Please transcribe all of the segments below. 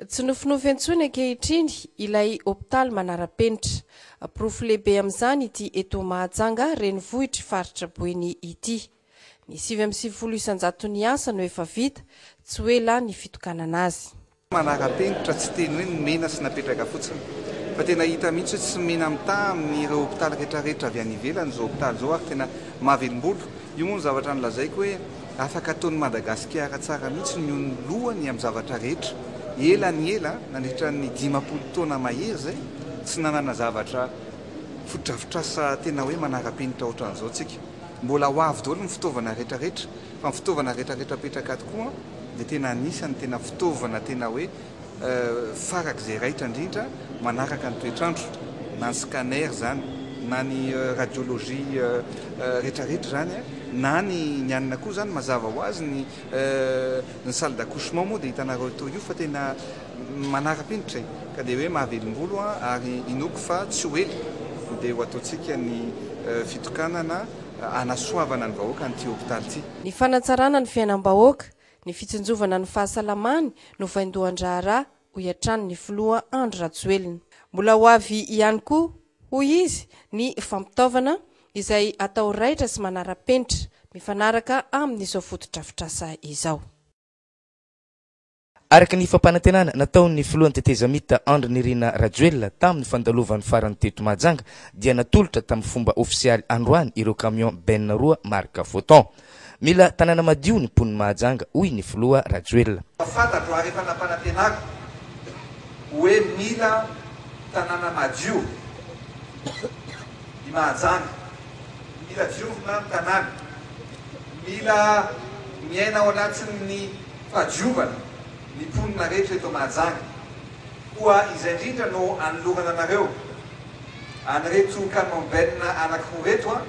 Tsy nofinofy intsony ankehitriny ilay hopitaly manara-penitra. Porofo lehibe amin'izany ity eto Mahajanga renivohitr'i Faritra Boeny ity. Ny sivy amby sivifolo isan-jaton'ny asa no efa vita, tsy ho ela ny fitokanana azy. Manara-penitra, tsy teny hoe nomena sy napetraka fotsiny, fa tena hita mihitsy hoe tsy mena mitaha amin'ireo hopitaly rehetrarehetra avy any ivelany izao hopitaly izao ary tena mahavelombolo. Io moa no zavatra nolazaiko hoe afaka ataon'i Madagasikara tsara mihitsy ny ho ny lohany amin'ny zavatra rehetra. Ela ny ela, nandritra ny dimampolo taona mahery izay, tsy nanana zavatra fotodrafitrasa tena hoe manara-penitra ohatran'izao isika. Mbola ho avy daholo ny fitaovana rehetrarehetra, fa ny fitaovana rehetrarehetra apetraka tokoa, dia tena anisan'ny tena fitaovana tena hoe farak'izay raitra indrindra manaraka ny toetr'andro, na ny scanner izany, na ny radiologie retraretra izany, na ny ny anona koa izany mazava ho azy ny ny salle d'accouchement moa dia hitanareo toy io fa tena manara-penitra e! ka dia hoe mahavelombolo ary inoako fa tsy ho ela dia ho ataontsika ny fitokanana hanasoavana ny vahoaka an'ity hopitaly ity. Ny fanatsarana ny fiainam-bahoaka, ny fitsinjovana ny fahasalamany no vaindohan-draharaha, hoy hatrany ny filoha Andry Rajoelina. Mbola ho avy ihany koa, hoy izy, ny fampitaovana, izay atao raitra sy manara-penitra, mifanaraka amin'izao fotodrafitrasa izao. Araka ny fampanantenana nataon'ny filohan'ny tetezamita Andry Nirina Rajoelina tamin'ny fandalovany farany teto Mahajanga dia natolotra tamin'ny fomba ofisialy androany ireo camion bennes roa marika Foton. Mila tanàna madio ny mponin'i Mahajanga hoy ny filoha Rajoelina. Efa fantatro ary efa nampanantenako hoe mila tanàna madio i Mahajanga, mila diovina ny tanàna, mila miaina ao anatin'ny. Fahadiovana, ny mponina rehetra eto Mahajanga. Koa izay indrindra no anolorana anareo, an'ireto Camembert-na anankiroa reto,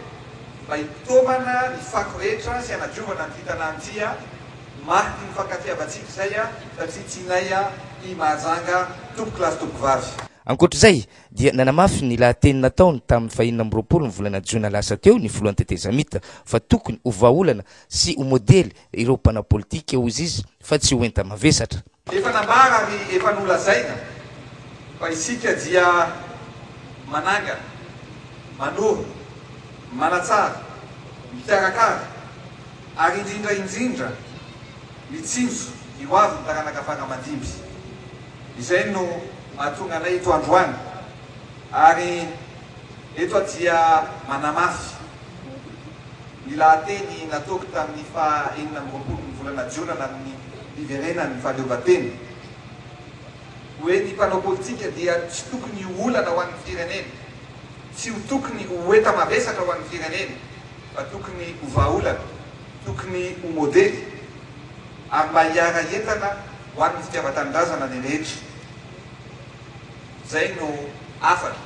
mba hitaomana ny fako rehetra sy hanadiovana an'ity tanàna ity, mariky ny fankatiavantsika izay satria tianay i Mahajanga tompoko lahy sy tompoko vavy. Ankoatra izay, dia nanamafy ny lahateny nataony tamin'ny fahenina amby roapolo ny volana jiona lasa teo ny filohan'ny tetezamita, fa tokony ho vahaolana sy ho modely ireo mpanao politika, hoy izy, fa tsy ho enta-mavesatra. Efa nambara ary efa nolazaina fa isika dia manangana, manoro, manatsara, mikarakara ary indrindra indrindra mitsinjo ny ho avin'ny taranaka fara aman-dimby. Izay no mahatonga anay eto androany ary eto dia manamafy. ny lahateny nataoko tamin'ny faha enina amby roapolon'ny volana Jona namin'ny niverenan'ny fahaleovantena hoe ny mpanao politika dia tsy tokony ho olana ho an'ny firenena, tsy ho tokony ho enta-mavesatra ho an'ny firenena fa tokony ho vahaolana, tokony ho modely ary mba hiara-hientana ho an'ny fitiavan-tanindrazana ny rehetra. Izay no hafatra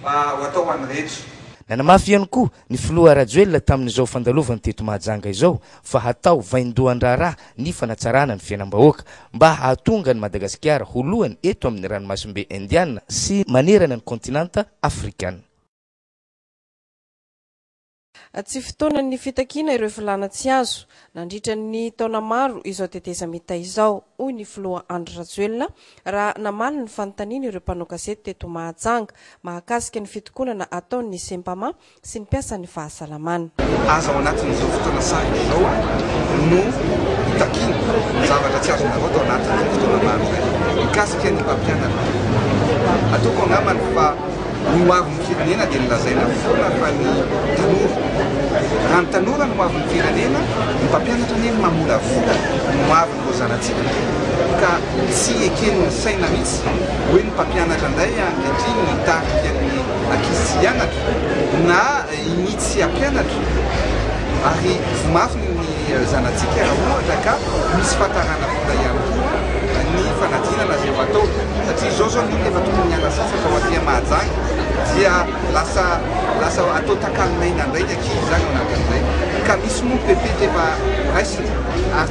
mba ho atao ho an'ny rehetra. Nanamafy ihany koa ny filoha Rajoelina tamin'izao fandalovany teto Mahajanga izao fa hatao vaindohan-draharaha ny fanatsarana ny fiainam-bahoaka mba hahatonga an'i Madagasikara ho lohany eto amin'ny ranomasimbe Indiana sy manerana ny kaontinanta Afrikana. Tsy fotoanan'ny fitakiana ireo filàna tsy azo, nandritra ny taona maro izao tetezamita izao, hoy ny filoha Andry Rajoelina raha namaly ny fanontaniana ireo mpanao gazety teto Mahajanga, mahakasika ny fitokonana ataon'ny Sempama sy ny mpiasan'ny fahasalamana. Aza ao anatin'izao fotoana sarotra izao no hitakiana zavatra tsy azonareo atao anatin'izay fotoana maro izay. Mikasika ny mpampianatra, ataoko angambany fa ny ho avin'ny firenena dia nolazaina foana fa ny tanora. Raha ny tanora no ho avin'ny firenena, ny mpampianatra anie mamolavola ny ho aviny. Koa zanatsika ka tsy eken'ny saina mihitsy hoe ny mpampianatra indray ankehitriny no hitarika ny ankizy tsy hianatra na i Mia tsy hampianatra ary ho mafy ny zanatsika raha ohatra ka misy fahatarana vola ihany koa ny fanadinana izay ho atao satria izao izao ny olona efa tokony hiala sasatra ho aty Mahajanga dia lasa lasa atao takalonaina indray ny ankizy izany ao anatin'izay ka misy moa ny pepeta efa horaisina ary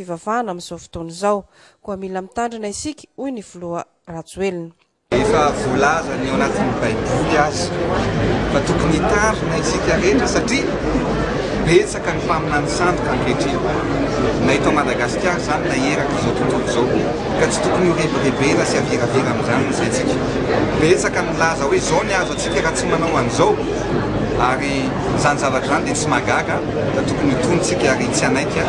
fivavahana amin'izao fotoana izao. Koa mila mitandrina isika, hoy ny filoha Rajoelina. Efa voalazany ao anatin'ny baiboly aza fa tokony hitandrina isika rehetra satria betsaka ny mpaminany sandoka ankehitriny na eto Madagasikara izany na eraky izao tontolo izao ka tsy tokony ho rebirebena sy haviravira amin'izany ny saintsika. Betsaka ny milaza hoe izao ny azo antsika raha tsy manao an'izao ary izany zavatra izany dia tsy mahagaga fa tokony ho tonontsika ary tsy hanaiky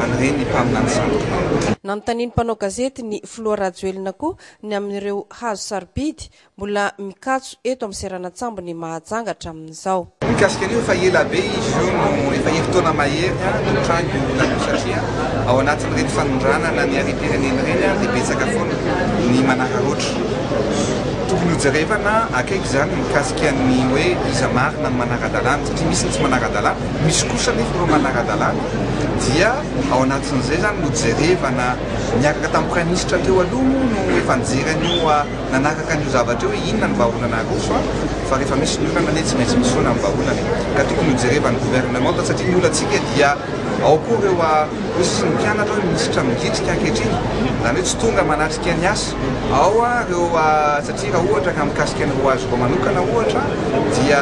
an'ireny ny mpaminany sasany. Nanontanian'ny mpanao gazety ny filoha Rajoelina koa ny amin'ireo hazo sarobidy mbola mikatso eto amin'ny seranan-tsambon'i Mahajanga hatramin'izao. Mikasika an'io efa ela be izy io no efa herintaona mahery no nitranga io olana io satria ao anatin'ireny fanondranana ny harem-pirenena ireny dia betsaka foana ny manararaotra. Tokony hojerevana akaiky izany mikasika ny hoe iza marina no manara-dalàna satria misy ny tsy manara-dalàna. Misy kosa anefa ireo manara-dalàna dia ao anatin'izay izany no jerevana, niaraka tamin'ny praiminisitra teo aloha moa no efa nijery an'io nanaraka an'io zavatra io hoe inona ny vahaolana aroso an? fa rehefa misy ny olana anie tsy maintsy misy foana ny vahaolana e! ka tokony ho jerevan'ny governemanta satria ny olantsika dia ao koa ireo hoe sy ny mpianatra hoe minisitra midritrika ankehitriny izany hoe tsy tonga manatrika ny asa ao ireo satria raha ohatra ka mikasika ny roa azoko manokana ohatra dia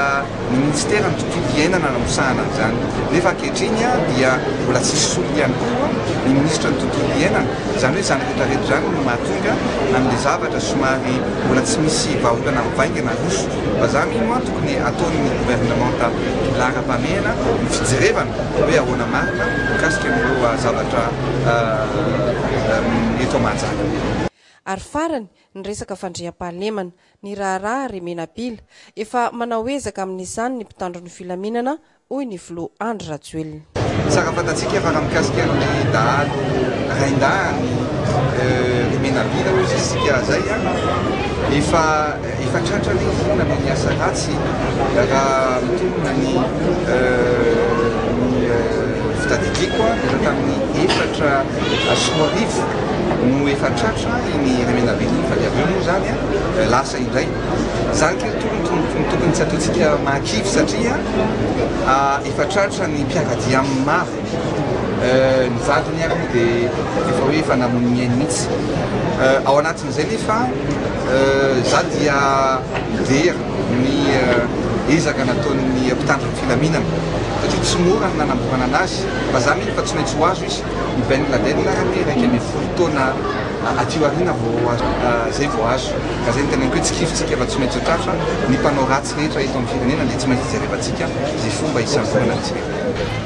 ny minisitera ny tontolo iainana nanosahana an'izany nefa ankehitriny dia mbola tsy misy solony ihany koa ny minisitra ny tontolo iainana, izany hoe izany rehetrarehetra izany no mahatonga an'ilay zavatra somary mbola tsy misy vahaolana mivaingana aroso vazaha mino an! tokony ataon'ny governemanta laharam-pahamehana ny fijerevana hoe ahoana marina mikasika an'ireo zavatra eto Mahajanga. Ary farany, ny resaka fandriampahalemana. ny raharaha ry Menabila. Efa manao ezaka amin'izany ny mpitandro ny filaminana, hoy ny filoha Andry Rajoelina. Tsara fantatsika fa raha mikasika ny dahalo raindahiny ry Menabila hoy izy isika izay efa efa tratra ny finoana noho ny asa ratsy raha mitombina ny ny fitadidiako efa tamin'ny efatra Soa Rivo no efa tratra iny Remenabe iny fa dia avy eo moa izany lasa indray. Izany kay no tokony tsy ataontsika mahakivy satria efa tratra ny mpiara-dia amin'ny maro. Ny vadiny ary moa dia efa hoe efa namono ny ainy mihitsy. Ao anatin'izay nefa izaho dia very ny ezaka nataon'ny mpitandro ny filaminana satria tsy mora ny nanamborana an'azy fa izaho mino fa tsy maintsy ho azo izy. I Ben Laden ary anie iraika ambin'ny folo taona aty aoriana vao azo, izay vao azo. Ka izay no teneniko hoe tsikifintsika fa tsy maintsy ho tratra, ny mpanao ratsy rehetra eto amin'ny firenena dia tsy maintsy jerevantsika izay fomba hisangonana azy ireo.